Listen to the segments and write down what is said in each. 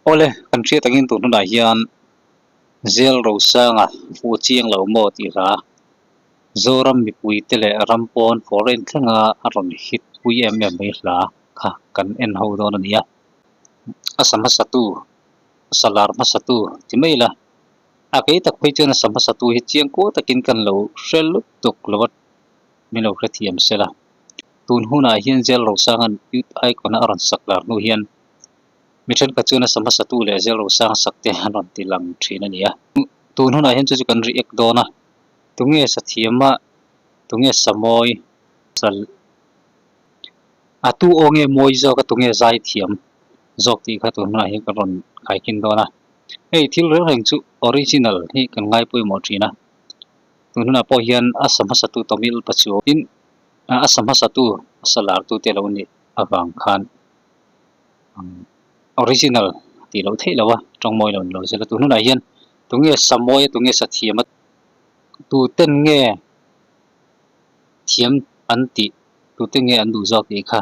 Awle, kan hriat angin tun hunah hian Zelrosanga fuh chiang lo maw tih hla Zoram mipuite leh ram pawn foreign thlenga a rawn hit pui em em mai hla kha kan en ho dawn a nia, a sa hmasa tu, a sa lar hmasa tu ti mai ila. A kei tak phei chuan a sa hmasa tu hi chiang kual takin kan lo hre lut tuk lo a, min lo hre thiam sel a. Tun hunah hian Zêl Rosanga'n Youth Icon-a a rawn sak lar hnu hian mi ṭhenkhat chuan a sa hmasa tu leh Zêl Rosanga sakte an rawn ti lang ṭhin a ni a. Tun hunah hian chu chu kan ri ek dawn a, tunge sa thiam a, tunge sa mawi a, a tu aw nge mawi zawk a, tunge zai thiam. zawk tih kha tun hunah hian ka rawn kaikin dawn a, hei thil reng reng chu original hi kan ngai pawimawh thin a, tun hunah pawh hian a sa hmasa tu Tamil pa chu tin a sa hmasa tu a sa lar tu te lo ni avang khan umm original tih loh theih lova tawng mawi lo ni lo zela tun hunah hian tunge sa mawi a tunge sa thiam a tu ten nge thiam an tih tu te nge an duh zawk tih kha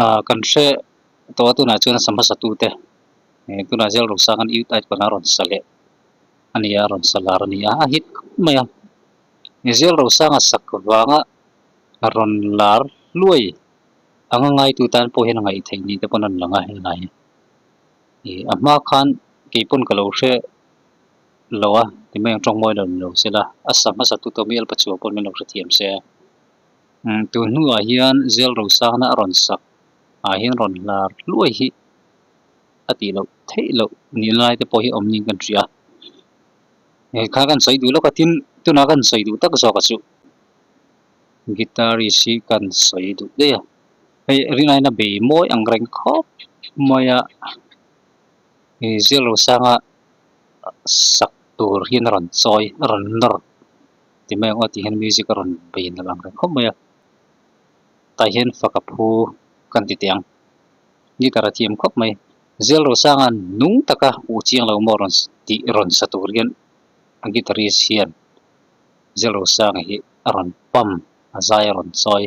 Ahh kan hre tawh a tunah chuan sangha satu te ehh tunah zel rawn sang an irti paihna rawn sa leh a ni a rawn sa lar a ni a a hit khawp mai a ih zel rawn sanga sak vanga rawn lar hluai anga ngaitu tan pawh hian a ngaih theih ni te pawn a rawn lang a helai hi ih a hma khan keipawn ka lo hre lo a timai ang tawng mawi lo ni lo sela a sangha satu tawh mialpa chhuah pawh min lo hrethiam se a. Tun hnuah hian Zelrosakna a rawn sak ah hian rawn hlar hluai hi a tih loh theih loh nih lai te pawh hi awm niin kan hria. He kha kan sawi duh lawk a tin tuna kan sawi duh tak zawk a chu guitarist hi kan sawi duh daih a. Hei rin aina bei mawi ang reng khawp mai a he Zelrosakna sak tur hian a rawn chawi a rawn nawr. ti mai ang aw tih hian music a rawn bei a lang reng khawp mai a tah hian faka phu kan ti teh ang guitar a thiam khawp mai Zelrosanga nung taka u chiang lo maw rawn tih rawn sa tur hian a guitarist hian Zelrosanga hi a rawn pump a zai a rawn chawi.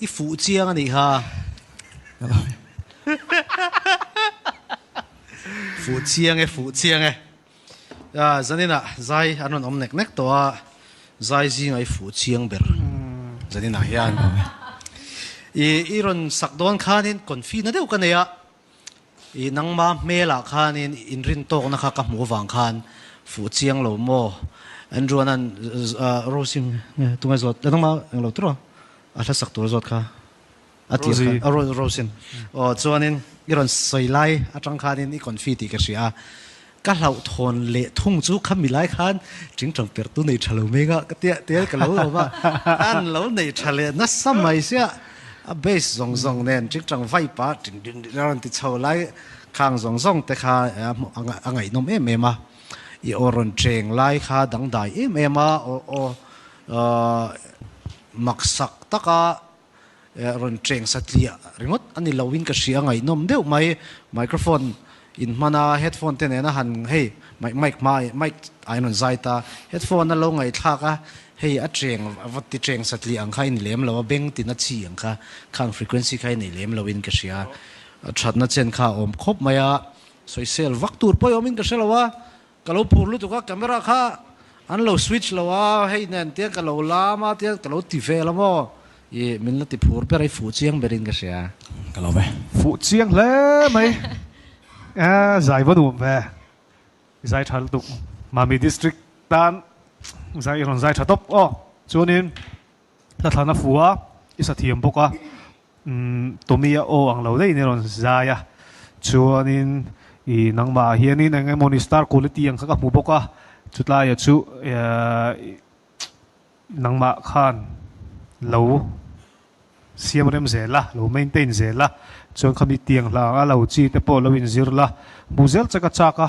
I fuh chiang a nih ha. fuh chiang e, fuh chiang e. A, Zanina, Zai an rawn awm nek nek tawh a, Zai zinga i fuh chiang ber. Zanina hian, I, i rawn sak dawn khanin konfina deuh ka nei a. I nangma hmelah khanin inrin tawkna kha ka hmuh avang khan fuh chiang lo maw? Andrew a nan Rosie nge tunge zawt le nangma englo tur a a hlasak tur zawt kha a tir kha a Rosie in aw chuanin i rawn sawi lai atang khanin i confy tih ka hria a Ka hlauhthawn leh thung chu kha milai khan tingtang perhtu nei tha lo meng a ka tia tel ka lo awm a an lo nei tha leh nasa mai sia a bass zawng zawng nen tingtang vibe a tin din din a rawn ti chho lai khang zawng zawng te kha a ngaihnawm em em a i aw rawn cheng lai kha dangdai em em a aw aw maksak taka rawn cheng satliah ringawt a ni loin ka hria ngaihnawm deuh mai. Microphone in hman a, headphone te nena han hei mic hma mic ahin rawn zai ta. Headphone a lo ngaihthlak a, hei a cheng a va ti cheng satliah ang kha i ni lem lo a, beng tina chi ang kha khang frequency kha i nei lem loin ka hria. Thatna chen kha a awm khawp mai a, sawisel vak tur pawh i awmin ka hre lo a, Ka lo phur lutuk a, camera kha an lo switch lo a, hei nen tiang ka lo lam a tiang ka lo ti vel a maw i, min la ti phur ber a i, fuh chiang ber in ka hria. Ka lo ve. Fuh chiang hle mai a, zai va nuam ve i zai tha lutuk, Mami District tan zai i rawn zai tha tawp aw, chuan in hla thlan a fu a, i sa thiam bawk a. Umm, Tommy a aw ang lo daihna i rawn zai a. Chuanin, I, nangmah hianin eng nge mawni star quality ang kha ka hmu bawk a, chutlaia chu eaaa nangmah khan lo siam rem zel a, lo maintain zel a, chuan khami tiang hla ang a, lo chi te pawh lo in zir la, hmuh zel che ka chak a.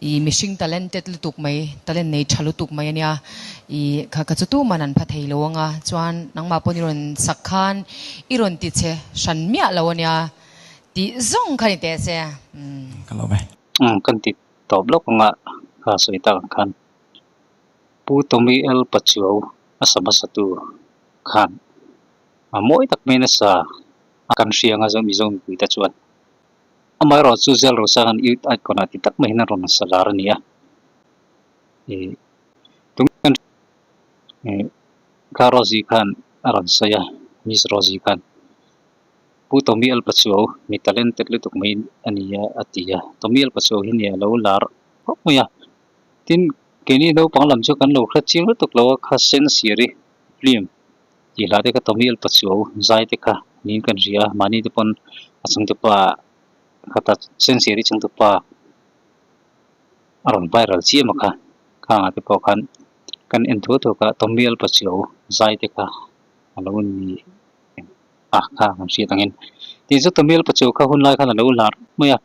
I mihring talented lutuk mai, talent nei tha lutuk mai a nia. I kha ka chutuman an pha thei lo ang a, chuan nangmah pawhin i rawn sak khan i rawn ti chhe hran miah lo a nia tih zawng khan i teh a che. Umm. Umm kan ti tawp lawk ang a, kha a sawi tak ang khan Pu Tommy L. Pachuau a sa hmasatu khan a mawi tak maiin a sa a, kan hria ang a zawng mizawng mipui te chuan Amaherawhchu chu zel ro sang an Ute-aite kawnah ti tak maiin an rawn nasa zar a ni a. Ih, tunge ih Ka Rosie khan a rawn sawi a, Miss Rosie khan. Pu Tommy Alpa chu aw, mi talented lutuk mai a ni a, a ti a. Tommy Alpa chu aw hi nia, a lo lar khawp mai a. Tin, keini naupang lam chu kan lo hre chiang lutuk lo a, kha sense i ri hlim. Tihlah te ka tawng hi alpa chhiau zai te kha niin kan hria, mahni te pawn a changtupa kha ta Sencheri changtupa a rawn viral chiam a kha, khangah te pawh khan kan en thuak thuak a tawng hi alpa chhiau zai te kha a lo ni a kha kan hriat angin tin chu tawng hi alpa chhiau kha hun lai khan a lo hlar mai a,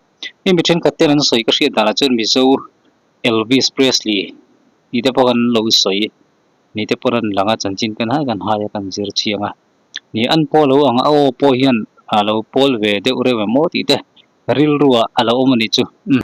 hemi mi thenkhat ten an sawi ka hriat dan ah chuan Mizo Elvis Presley tih te pawh kan lo sawi. ni te pawh ra'n lang a, chanchin ka hnai ka hnai a kan zir chiang a, ni an pawh a lo ang a aw pawh hian a lo pawl ve deuh reuh em aw tih te rilrua a lo awm a nih chu umm.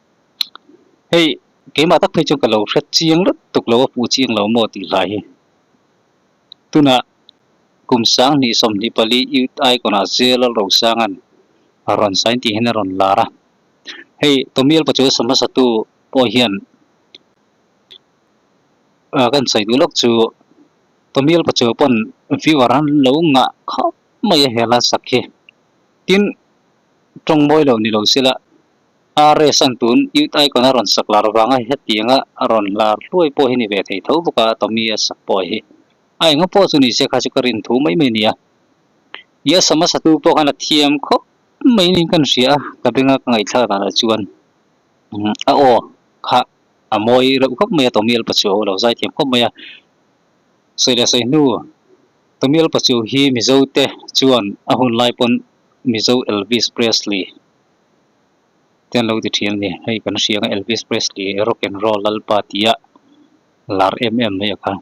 Hei keimah tak phei chuan ka lo hret chiang rat tuk lo a puh chiang lo maw tih hlai hi. Tunah kum sang hnih sawmhnih pali youth icon ah Zela Rosangan a rawn sign tih hian a rawn lar a. Hei Tommy Alpacu a sam hmasa tu pawh hian a kan sawi duh lawk chu Tommy Alpacu pawn viewer an lo ngah khawp mai a hela sak hi. Tin tawng mawi lo ni lo sela. A race an tun iut aikawna a rawn sak lar avanga hetianga a rawn lar hluai pawh hi ni ve thei tho bawk a, a Tommy a sak pawh hi. A enga pawh chu nise kha chu ka rin thu mai mai ni a. I a sam a satu pawh khan a thiam khawp mai niin kan hria a, ka benga ka ngaihthlak dan ah chuan umm a aw kha a mawi reuh khawp mai a Tommy alpa chu a aw lo zai thiam khawp mai a. Sawi le sawi hnu, Tommy alpa chu hi Mizote chuan a hun lai pawn Mizo Elvis Presley. te an lo ti ṭhian a ni hei kan hrianga Elvis Presley rock and roll lalpa tia lar em em mai a kha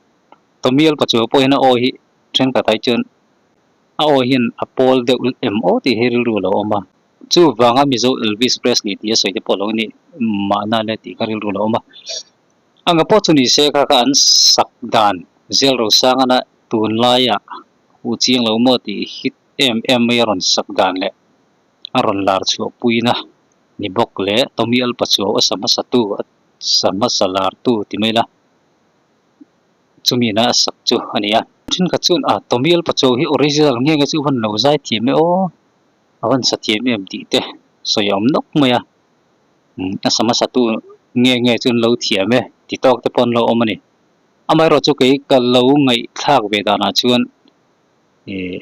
Tommy alpa chu pawhin a awi hi ṭhenkhat ah hi chuan a awi hian a pawl deuh em aw tih hi rilru a lo awm a chu vanga Mizo Elvis Presley tih a sawi te pawh lo ni mahna le tih kha rilru a lo awm a anga pawh chu ni se kha kha an sak dan Zelro Sangana tunlai ah u chiang lo maw tih hi em em mai a rawn sak dan leh. a rawn lar chhuah puiin a ni bawk leh Tommy Alpa chu a awsa hmasa tu a sa hmasa lar tu ti mai la chumi na a sak chu a ni a. Thenkhat chuan a Tommy Alpa chu hi original nge nge chu i han lo zai thiam e aw a han sa thiam em tih te sawi a awm nawk mai a a sa hmasa tu nge nge chu an lo thiam e ti tawk te pawh an lo awm a ni. Amaherawhchu kei ka lo ngaihthlak ve danah chuan ihh.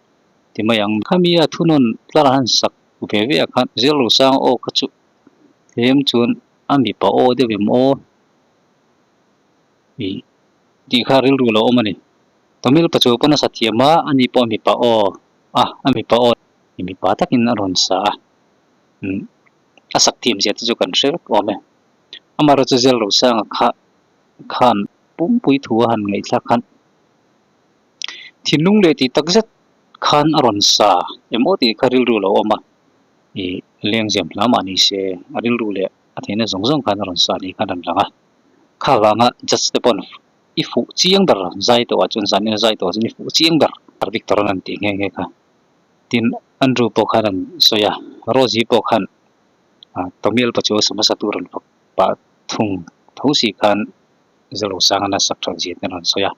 ti mai ang. Khami a thunawn tlar a han sak ve ve a khan Zirlo Sang aw kha chu tlem chuan a mipa aw deuh em aw ih tih kha rilru lo awm a ni. Tamil pachu pawn a sa thiam a, a ni pawh a mipa aw a, a mipa aw ih mipa takin a rawn sa a, umm a sak thiam zia te chu kan hre vek awm e. Amaherawh chu Zirlo Sang a kha khan pumpuii thu a han ngaihthlak khan. Thinlung leh tih tak zet khan a rawn sa em aw tih kha rilru lo awm a, i lengzem hle a mah ni se a rilru leh a theihna zawng zawng khan a rawn sa ni kha a rawn lang a. Kha avanga judge te pawh i fuh chiang ber zai tawhah chuan zahna zai tawh chuan i fuh chiang ber dik tawh a rawn han tih nghe nghe kha. Tin Andrew pawh khan a rawn sawi a, Rosie pawh khan Tomial pa chu a sawm hmasa tur rawn fak pah thung tho si khan Zalosanga na sak chhuak zia te a rawn sawi a.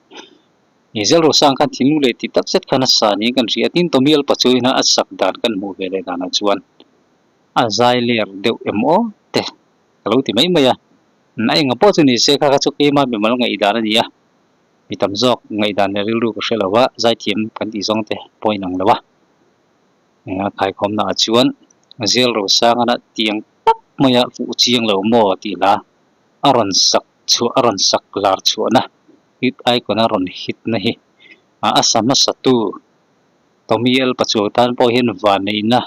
I zelro sang khan thingnu leh ti takzet khan a sa niin kan hria a, tin Tomial Pachoina a sak dan kan hmuh ve leh danah chuan a zai ler deuh em aw teh ka lo ti mai mai a, a enga pawh chu ni se kha kha chu keima mimal ngaihdan a ni a, mi tam zawk ngaihdan leh rilru ka hre lo va, zaithiam kan tih zawng te pawh a inang lo a, enge khaikhawmnaah chuan zelro sangana tiang tak maia fuh chiang lo maw tih hla a rawn sak chhuah a rawn sak lar chhuahna. Hit aikawna rawn hitna hi a sa hmasatu Tommy Elpa Chuang tan pawh hian vaneihna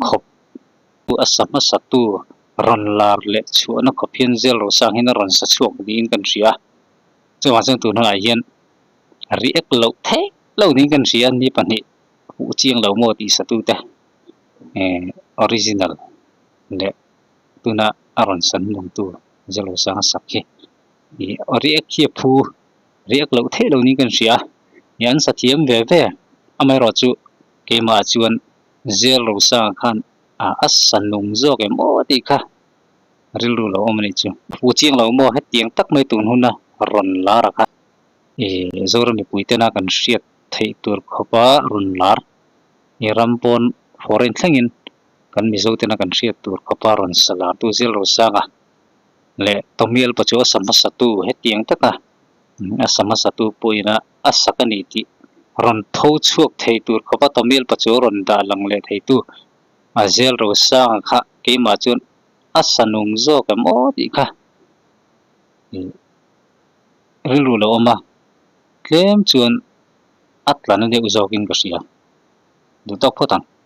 khawp chu a sa hmasatu rawn lar leh chhuahna khawp hian zel ro sang hian a rawn sa chhuak niin kan hria a, chuvang chuan tun hunah hian ri ek loh theih lo niin kan hria a, mi pahnih hmuh chiang lo maw tih satute original leh tuna a rawn san hmangtu Zel Ro Sanga sak hi riek hi a phu riek loh theih lo niin ka rin hria nia an sa thiam ve ve amaherawhchu chu keimah chuan zêl rosanga khan ah a sa nung zâwk em aw tih kha rilru lo awm a nih chu pu chiang lo maw hetiang tak mai tûn huna rawn lâr a kha ih Zoram mipuitena kan hriat theih tûr khawpa rawn lâr i ram pâwn foreign thlengin kan Mizotena kan hriat tûr khawpa rawn sa lârtu zêl rosanga leh Tawmial pawh chu a sam hmasa tu hetiang taka a sam hmasa tu pawhina a sak a ni tih rawn tho chhuak thei tur khawpa Tawmial pawh chu a rawn dah lang leh thei tu a Zial Rosanga kha keimah chuan a sanung zawk em aw tih kha rilru lo awm a, tlem chuan a tlan a deuh zawk in ka hria duh tak phawt ang.